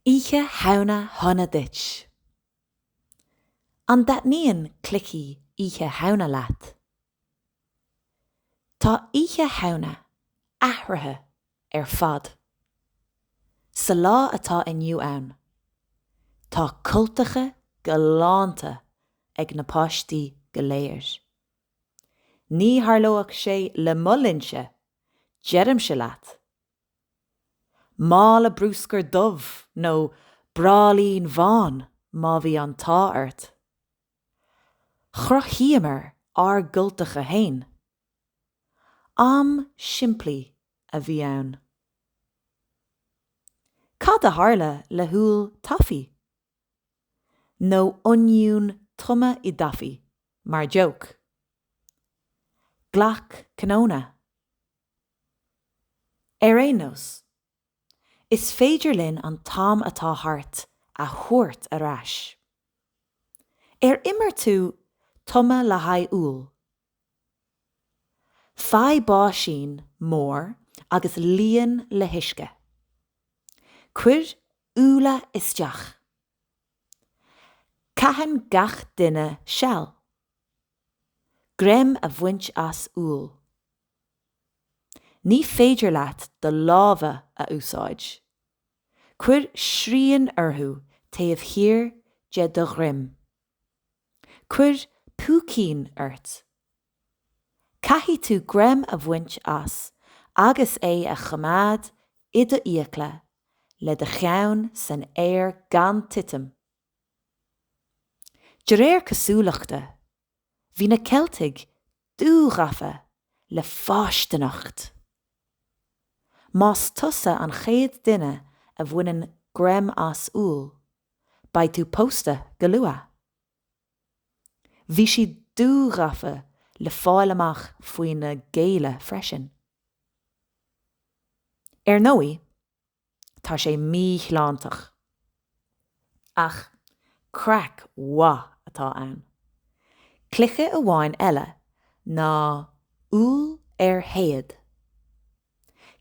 Oíche Shamhna shona duit! An dtaitníonn cluichí Oíche Shamhna leat? Tá Oíche Shamhna athraithe ar fad. Sa lá atá inniu ann, tá cultacha galánta ag na páistí go léir. Ní tharlódh sé le mo linnse, deirimse leat! Mála brúscair dubh nó bráillín bhán má bhí an t-ádh ort. Chruthaíomar ár gcultacha fhéin. Am simplí a bhí ann. Cad a tharla le húll taifí? Nó oinniún tumtha i dtaifí, mar joke? Glac cnónna. Ar aon nós, is féidir linn an t-am atá thart a thabhairt ar ais. Ar imir tú tumadh le haghaidh úll? Faigh báisín mór agus líon le huisce. Cuir úlla isteach. Caitheann gach duine seal. greim a bhaint as úll. Ní féidir leat do lámha a úsáid. Cuir srian orthu taobh thiar de do dhroim. Cuir púicín ort. Caithfidh tú greim a bhaint as agus é a choimeád i do fhiacla le do cheann san aer gan titim. De réir cosúlachta, bhí na Ceiltigh dúghafa le fáistineacht! Más tusa an chéad duine a bhaineann greim as úll, beidh tú pósta go luath. Bhí siad dúghafa le fáil amach faoina gcéile freisin. Ar ndóigh, Tá sé míshláinteach. Ach craic mhaith atá ann. Cluiche amháin eile ná Úll ar Théad.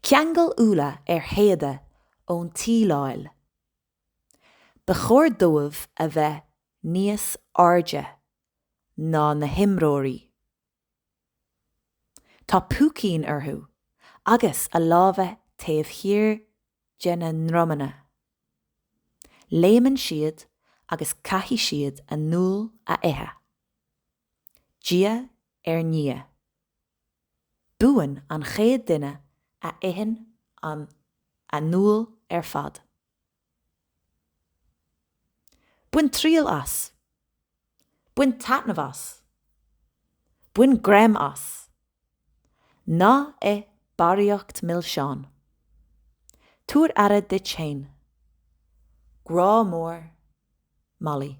Ceangail úlla ar théada ón tsíleáil. Ba chóir dóibh a bheith níos airde ná na himreoirí. Tá púicín orthu agus a lámha taobh thiar dá ndromanna. Léimeann siad agus caithfidh siad an t-úll a ithe, diaidh ar ndiaidh. Buann an chéad duine a itheann an t-úll ar fad. Bain triail as. Bain taitneamh as. Bain greim as. Ná ith barraíocht milseán. Tabhair aire duit féin. Grá mór, Molly.